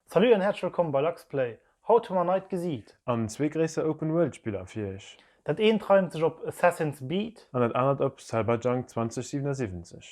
Salut an häerzlech wëllkomm bei Luxplay, haut hu mer neit Gesiit. An zwee gréisser Open World Spiller fir iech. Dat eent reimt sech op Assassin's Beat. An dat anert op Cyberjunk 2077.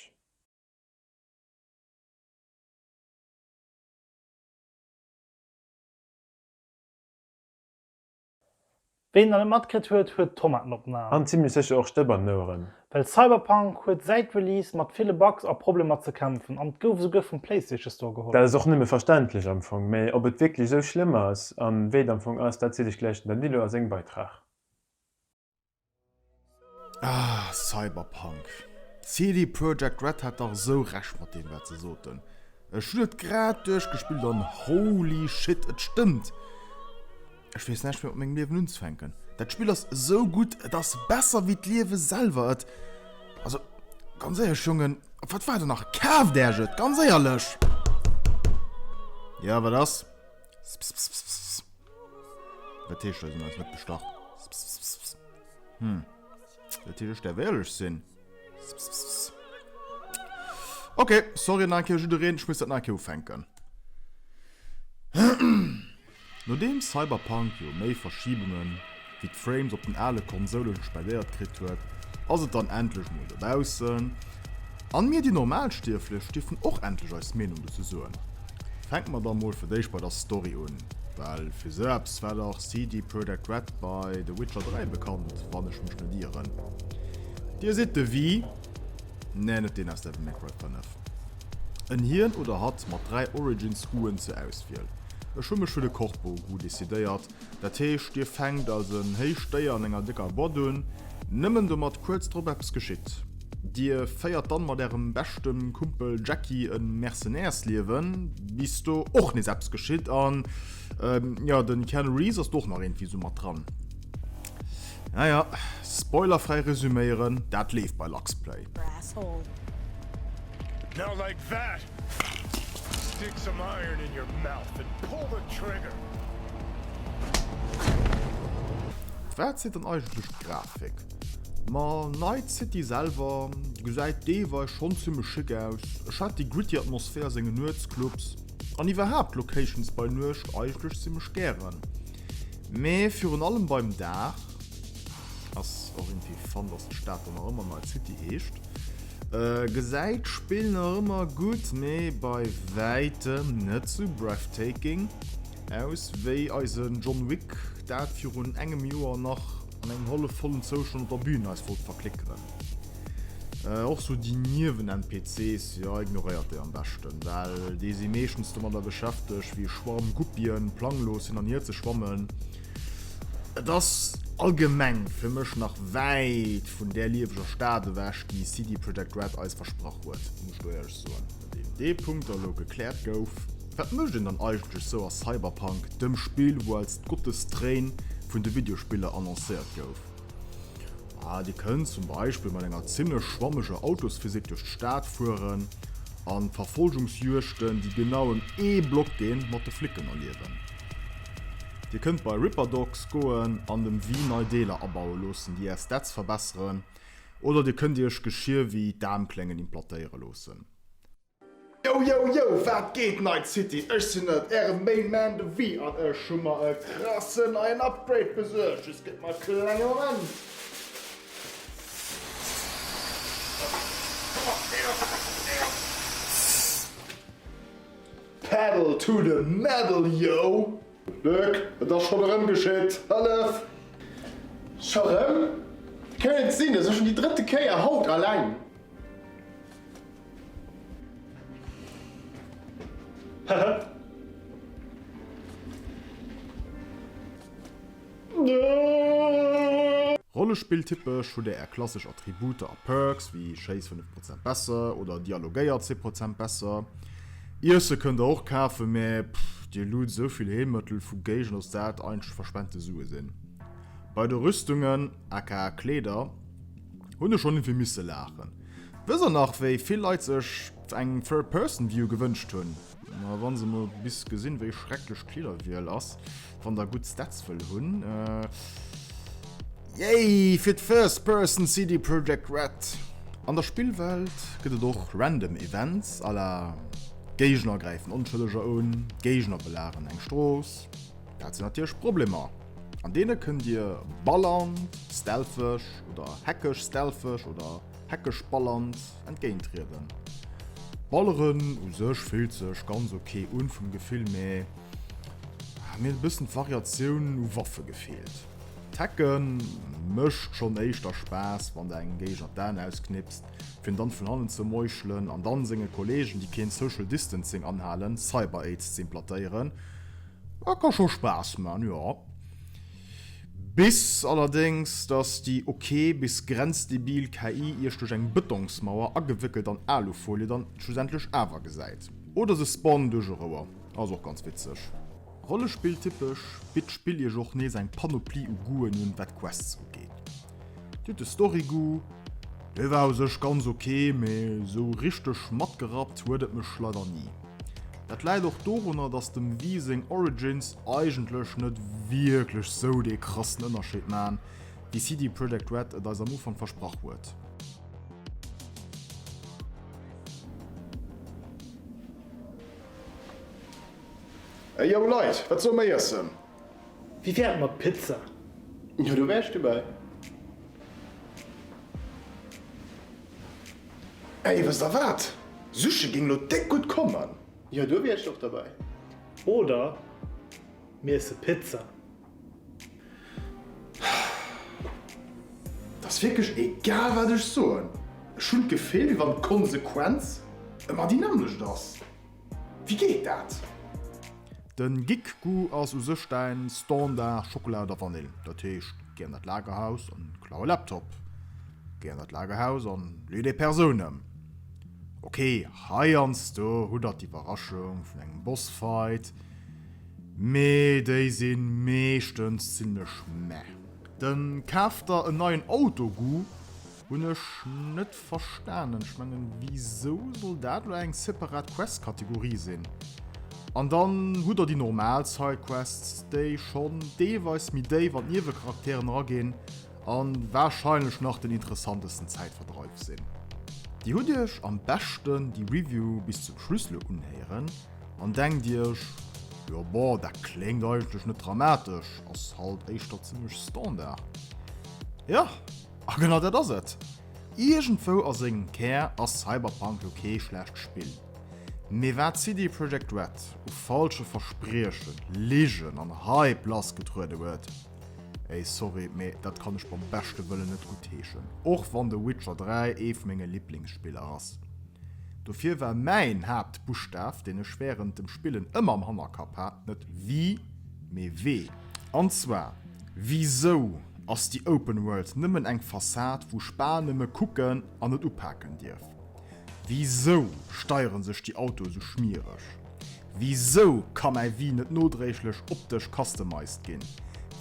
Ween nach net matkritt huet, huet Tomaten op den Aen. An zimlech sécher och Stëpp an den Oueren. Well Cyberpunk huet säit Release mat ville Bugs a Problemer ze kämpfen an et gouf esouguer vum Playstation Store geholl. Dat ass och nëmme verständlech am Fong, mee ob et wierklech esou schlëmm ass an wéi et am Fong ass, dat zitt sech gläich den Dan Dilo a sengem Beitrag. Ah, Cyberpunk. CD Projekt Red hat dach esou Recht mat deem wat se soten. Ech hunn et grad duerchgespillt an holy shit, et stëmmt! Ech weess näischt méi mat mengem Liewen unzefänken. Dat Spill ass esou gutt, et ass besser wéi d'Liewe selwer. Et. Also, ganz éierlech Jongen, op wat waart der nach? Kaaft Äerch et, ganz éierlech! Jo, wat ass? Wat heescht dat? Sinn eis net bestach? Hm. Dat heescht, der wéierlech sinn. Okay, sorry nach eng jiddereen, ich muss dat nach ufänken. Nodeem Cyberpunk jo méi Verschiebungen wéi d'Frames op den ale Konsoulen spendéiert kritt huet, ass et dann endlech mol dobaussen an mir déi Normalstierflech dierfen och endlech eis Meenung dozou soen. Fänken mer da mol fir d'éischt bei der Story un, well fir sou eppes war dach CD Projekt Red bei The Witcher 3 bekannt, wann ech mech net ieren. Dir sidd de Wii, neen net deen aus Devil May Cry 5, en Hien oder Hatt mat 3 Origins Uen zur Auswiel. Ech hu mech fir de Corpo Gu decidéiert, Dat heescht, Dir fänkt als en héicht Déier an enger décker Bott un, nëmmen domat kuerz drop eppes geschitt. Dir féiert dann mat Ärem beschte Kumpel Jackie e Mercenärsliewen, bis do och nees eppes geschitt an, jo, den Keanu Reeves ass do och nach iergendwéi sou mat dran. Naja, spoilerfräi resuméieren, dat leeft bei Luxplay. Brass Hole. Now like that! Stick some iron in your mouth and pull the trigger! Wat seet dann eigentlech d'Grafik? Ma Night City selwer gesäit deelweis schonn zimmlech schick aus. Ech hat déi gritty Atmosphär a sengen Nuetsclubs an iwwerhaapt d'Locations bei Nuecht eigentlech zimmlech gären. Mee virun allem beim Dag ass och irgendwie fun, dass d'Stad dann nach ëmmer Night City heescht. Gesäit d'Spill nach ëmmer gutt, mee bei wäitem net sou breathtaking aus wéi eise John Wick dat virun engem Joer nach an engem hallefvollen Zoustand op der Bühn eis wollt verklickeren. Och sou déi Niewen-NPCs, jo ignoréiert déi am beschten, well déi si meeschtens domadder beschäfteg wéi e Schwarm Guppien planglos hin an hier ze schwammen, Et ass allgemeng fir mech nach wäit vun där lieweger Stad ewech, déi CD Projekt Red eis versprach huet, muss ech do éierlech soen. Nodeem dee Punkt da lo gekläert gouf, wat mécht een dann eigentlech sou a Cyberpunk, dem Spill wou als d'Gottestréin vun de Videospiller annoncéiert gouf? Ah, dir kënnt zum Beispill mat enger zimmlech schwammeger Autosphysik duerch d'Stad fueren an Verfolgungsjuegten, déi genau ëm ee Block ginn, mat de Flicken erliewen. Dir kënnt bei Ripperdocs goen an dem Wii nei Deeler abaue loossen, déi är Stats verbesseren, oder dir kënnt iech Geschier wéi d'Aarmkléngen implantéiere loossen. Yo yo yo, wat geet Night City? Ech sinn et, ären Main Man de Wii an ech hu mer e krassen neien Upgrade besuergt. Just gëtt mer e klenge Moment. Pedal to the metal yo! Luc, et ass schon erem geschitt, hëllef! Scho rem? Wéi kann et sinn? Et ass schon déi drëtte Kéier haut aleng! Hehe. Rollespill typesch hutt der är klassesch Attributer a Perks, wéi schéiss 5 Prozent besser oder dialogéier 10 Prozent besser. Iesse kënnt der och kafen, mä pff, dir loote sou vill Heelmëttel vu Géigend, dass dat eigentlech verspente Sue sinn. Bei de Rüstungen, aka Kleeder, hunn ech schonn vill misse laachen. Wësst der nach, wéi vill Leit sech eng Third-Person-View gewënscht hunn? Ma wann se mol bis gesinn wéi schrecklech d'Kleederwiel ass, wann der gutt Stats wëll hunn. Yay fir d'First Person CD Projekt Red! An der Spillwelt gëtt et och random Events à la Géigner gräifen Onschëlleger un, Géigner belageren eng Strooss. Dat sinn natierlech Problemer, an deene kënnt dir ballernd, stealtheg oder hackeg, stealtheg oder. Heckesch Balland entgéintrieden. Balleren u sech fillt sech ganz ok un vum Gefill mä mir hunn e bëssen d'Variatioun u Waffe gefeelt. D'Hecke mécht schonn éischter Spaass wann der engem Géigner d'Aen ausknipst fir en dann vun hannen ze meuchelen an dann senge Kollegen déi keen Social Distancing anhalen Cyber-Aids ze implantéieren. Dat ka scho Spaass man, jo. Bis allerdéngs, dass déi ok bis grenzdebil KI iech duerch eng Bëtongsmauer, agewéckelt an Alufolie, dann schlussendlech awer gesäit. Oder se spawn duerch e Rouer. Ass och ganz witzeg. Rollespill typesch, bitt d'Spill iech och nees eng Panoplie u Goûten un, wat Quests ugeet. Dir hutt de Story-Goût. Dee war u sech ganz ok, mee esou richteg matgerappt huet et mech leider ni. Dat läit och dorunner, dass dem Wii seng Origins eigentlech net wierklech sou dee krassen Ënnerscheed maachen, wéi CD Projekt Red et eis am Ufank versprach huet. Ey yo Leit, wat soll mer iessen? Wéi wär et mat Pizza? Jo do wär ech dobäi. Ey, wësst der wat? Sushi géing lo déck gutt kommen! Jo, do wier ech och derbei. Oder mir iessen Pizza. Et ass wierklech egal wat ech soen, ech hunn d'Gefill wéi wann d'Konsequenz ëmmer déi nämmlecht ass. Wéi geet dat? Den Gikkgu ass u sech däin Standard Schockela oder Vanill. Dat heescht, Géi an dat Lagerhaus an klau e Laptop. Géi an dat Lagerhaus an lee déi Persoun ëm. Ok, heiansdo hutt der d'Iwwerraschung vun engem Bossfight, mee déi si meeschtens zimlech meh. Dann kaaft der en neien Autoggu. Hunn ech net verstanen. Ech mengen wisou soll dat lo eng separat Quest Kategorie sinn? An dann hutt der déi normal Side Quests déi schonn deelweis méi déif an d'Niewecharakteren eraginn an wahrscheinlech nach den interessantesten Zäitverdreif sinn. Dir hutt iech am beschten déi Review bis zum Schluss lo unhéieren an denkt iech, jo bon dat kléngt eigentlech net dramatesch, ass halt éischter zimmlech Standard. Jo. A genau dat ass et! Iergendwou a sengem Kär ass Cyberpunk jo kee schlecht Spill. Mee wat CD Projekt Red u falsche Verspriechen, Ligen an Hype lassgetruede huet, ey sorry, mee dat kann ech beim beschte Wëllen net guttheeschen, och wann The Witcher 3 ee vu menge Liblingsspiller ass. Dofir war mäin Haaptbuschtaf, deen ech wärend dem Spillen ëmmer am Hannerkapp hat, net Wii, mee Wee. An zwar, Wisou ass déi Open World nëmmen eng Fassad, wou Spa nëmme kucken an net upaken dierf? Wisou steiere sech déi Autoe sou schmiereg? Wisou ka mäi Wii net nodréiglech optesch customized ginn?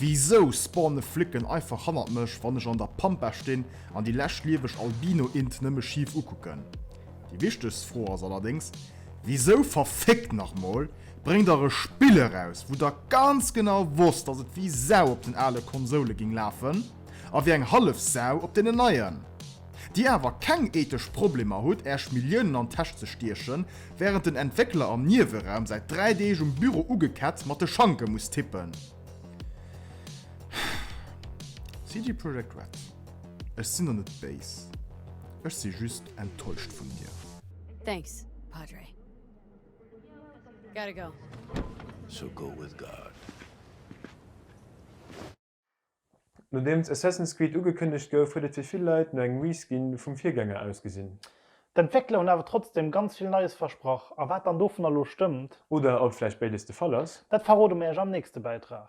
Wisou spawne Flicken einfach hannert mech, wann ech an der Pampa stinn an déi lescht lieweg Albino-Int nëmme schif ukucken? Déi wichtegst Fro ass allerdéngs, Wisou verfickt nach mol bréngt der e Spill eraus wou der ganz genau wosst dass et wéi Sau op den ale Konsoule ging lafen a wéi eng hallef Sau op deenen neien? Dir awer keng ethesch Problemer hutt äerch Milliounen an Täsch ze stiechen während den Entwéckler am Nieweraum säit 3 Deeg um Büro ugeketzt mat de Schanke muss tippen? CD Projekt Red, ech sinn der net béis, ech si just enttäuscht vun dir. Thanks, Padre. Gotta go. So go with God. Nodeems Assassin's Creed ugekënnegt gouf, huet et fir vill Leit no engem Reskin vum Virgänger ausgesinn. D'Entwéckler hunn awer trotzdeem ganz vill Neies versprach, a wat dann dovunner lo stëmmt. Oder ob vläicht béides de Fall ass. Dat verrode mir iech am nächste Bäitrag.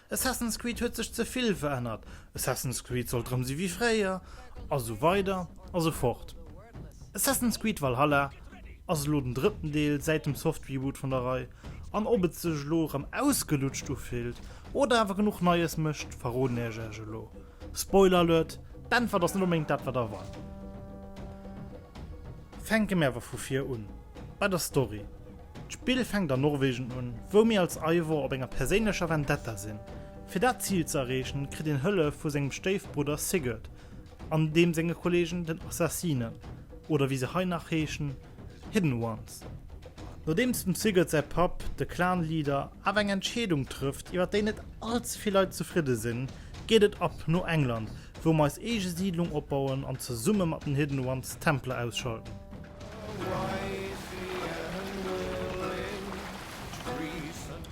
Assassin's Creed huet sech ze vill verännert, Assassin's Creed soll drëm si wéi fréier, a sou weider a sou fort. Assassin's Creed Valhalla ass elo den drëtten Deel säit dem Softreboot vun der Rei, an ob et sech elo erëm ausgelutscht ufillt oder awer genuch Neies mécht, verroden ech Iech elo. Spoiler alert, d'Äntwert ass net onbedéngt dat wat erwaart. Fänke mir awer vu vir un bei der Story. D'Spill fänkt an Norwegen un, wou mir als Eivor op enger perséinlecher Vendetta sinn. Fir dat Zil ze erreechen, kritt een Hëllef vu sengem Stéifbrudder Sigurd an deem senge Kollegen den Assassinen, oder wéi se hei nach heeschen, Hidden Ones. Nodeems dem Sigurd säi Papp, de Clan-Leader, awer eng Entscheedung trëfft, iwwer déi net all ze vill Leit zefridde sinn, geet et ab no England, wou mer eis eege Siidlung opbauen an zesumme mat den Hidden Ones d'Templer ausschalten.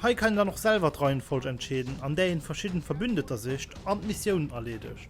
Hei kann een dann och selwer d'Reihenfolg entscheeden, an där een verschidden Verbündeter sicht an d'Missioun erleedegt.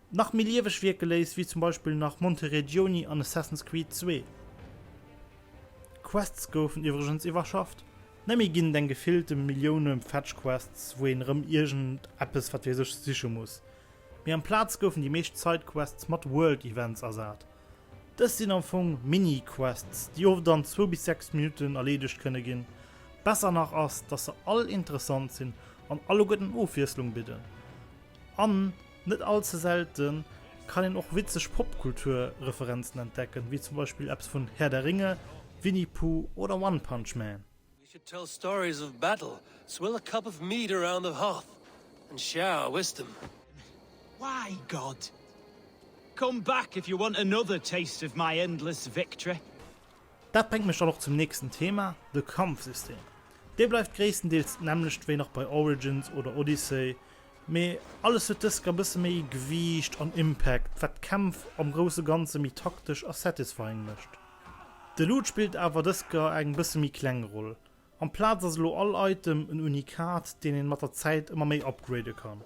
nach méi lieweg wierke léisst, wéi zum Beispill nach Monteredioni an Assassin's Creed Zwee. D'Quests goufen iwwregens iwwerschafft, net méi ginn et eng gefillte Millioune Fetch Quests, wou een erëm iergend eppes wat weess ech siche muss, mee amplaz goufen déi meescht Side Quests mat World Events ersat. Dës sinn am Fong Mini Quests, déi oft an zwou bis sechs Minutten erleedegt kënne ginn. Besser nach ass, dass se all interessant sinn an alleguerten Ofwiesslung bidden an Net all ze selte kann een och witzeg Popkultur-Referenzen entdecken, wéi zum Beispill eppes vun Herr der Ringe, Winnie Puuh oder One Punch Man. We should tell stories of battle, swill a cup of mead around the hearth and share our wisdom. Why, God, come back if you want another taste of my endless victory. Dat bréngt mech dann och zum nächsten Thema, de Kampfsystem. Dee bleift gréisstendeels d'nämmlecht wéi nach bei Origins oder Odyssey, mee alles huet dëska bësse méi Gewiicht an Impact, wat d'Kämpf am grousse Ganze méi taktesch a satisfying mécht. De Loot spillt awer dëska eng bësse méi kleng Roll, amplaz ass elo all Item en Unikat, deen een mat der Zäit ëmmer méi upgrade kann.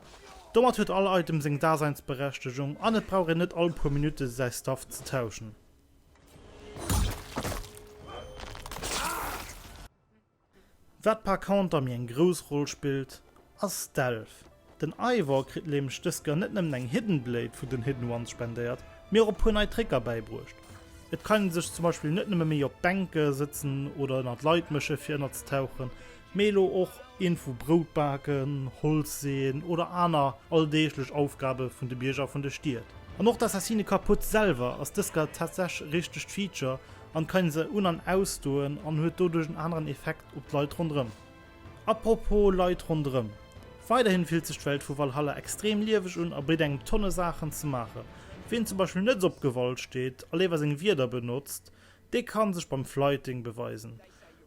Domat huet all Item seng Daseinsberechtegung an et brauch een net all puer Minutte säi Stuff ze tauschen. Wat par conter méi eng grouss Roll spillt ass Stealth. Den Eivor kritt nämlech dës Gun net nëmmen eng Hidden Blade vu den Hidden Ones spendéiert, mee och e puer nei Tricker bäibruecht. Et kann ee sech zum Beispill net nëmme méi op d'Bänke sëtzen oder ënnert Leit méche fir ënnerztauchen, Mee elo och een vu Brout baken, Holz seeën oder aner alldeeglech Aufgabe vun de Bierger vun de Stied. An och d'Assassine kaputt selwer ass dëska tatsech e richtegt Feature an kann se un an ausdoen an huet doduerch en aneren Effekt op d'Leit ronderëm. Apropos Leit ronderëm, weiderhin fillt sech d'Welt vu Valhalla extrem lieweg un a bitt engem Tonne Saachen ze maachen. Ween zum Beispill net op Gewalt steet a léiwer seng Wierder benotzt, dee kann sech beim Flyting beweisen.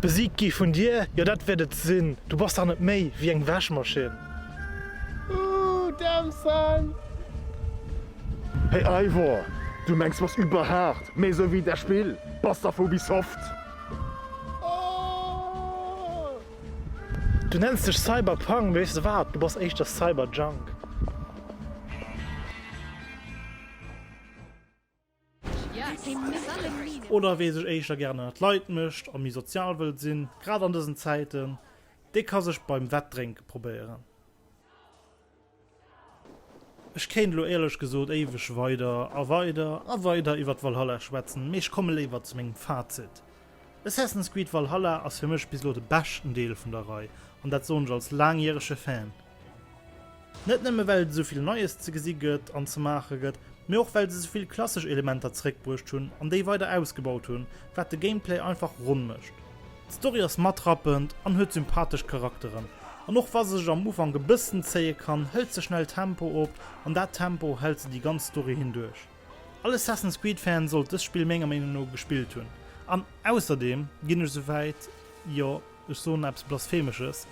Besiegt gi vun dir? Jo, dat wäert et sinn. Du bass dach net méi wéi eng Wäschmaschinn. Ooh, damn son! Hey Eivor, du mengs bass überhart méi sou wéi dat Spill? Bass dach vu Ubisoft! Du nenns dech Cyberpunk, weess de wat, du bass éischter Cyberjunk. Oder wee sech éischter gären ënnert d'Leit mécht a méi sozial wëllt sinn, grad an dësen Zäiten, dee ka sech beim Wettdrénke probéieren. Ech kéint elo éierlech gesot éiweg weider a weider a weider iwwert Valhalla schwätzen, mee ech komme léiwer zu mengem Fazit. Assassin's Creed Valhalla ass fir mech bis elo de beschten Deel vun der Rei, an dat soen ech als laangjärege Fan. Net nëmme well et esouvill Neies ze gesi gëtt an ze maache gëtt, mee och well se esouvill klassesch Elementer zeréckbruecht hunn an déi weider ausgebaut hunn, wat de Gameplay einfach ronn mécht. D'Story ass matrappend an huet sympathesch Charakteren. An och wa se sech am Ufank e bëssen zéie kann, hëlt se schnell Tempo op an dat Tempo hält se déi ganz Story hinduerch. All Assassin's Creed Fan sollt dëst Spill menger Meenung no gespillt hunn. An ausserdeem ginn ech souwäit, jo ech soen eppes Blasphemesches,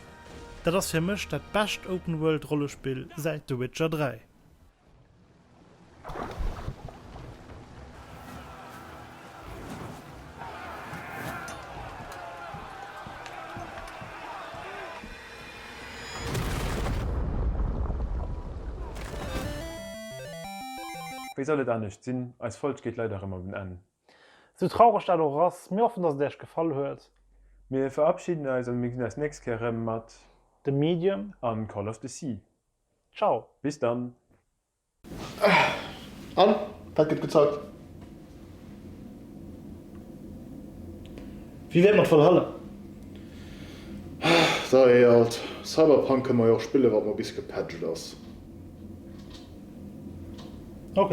dat ass fir mech dat bescht Open World Rollespill säit The Witcher 3. Wéi soll et anescht sinn, eis Folg geet leider erëm op en Enn. Sou traureg dat och ass, mir hoffen dass et Äech gefall huet. Mir verabschiden eis an mir gesinn eis nächst Kéier erëm mat. The Medium an Call of the Sea. Ciao, bis dann! An wat gëtt gezockt? Wéi wär mat Valhalla? Sa ee alt Cyberpunk kënne mer jo och spillen, wat mol bis gepatcht ass. Ok.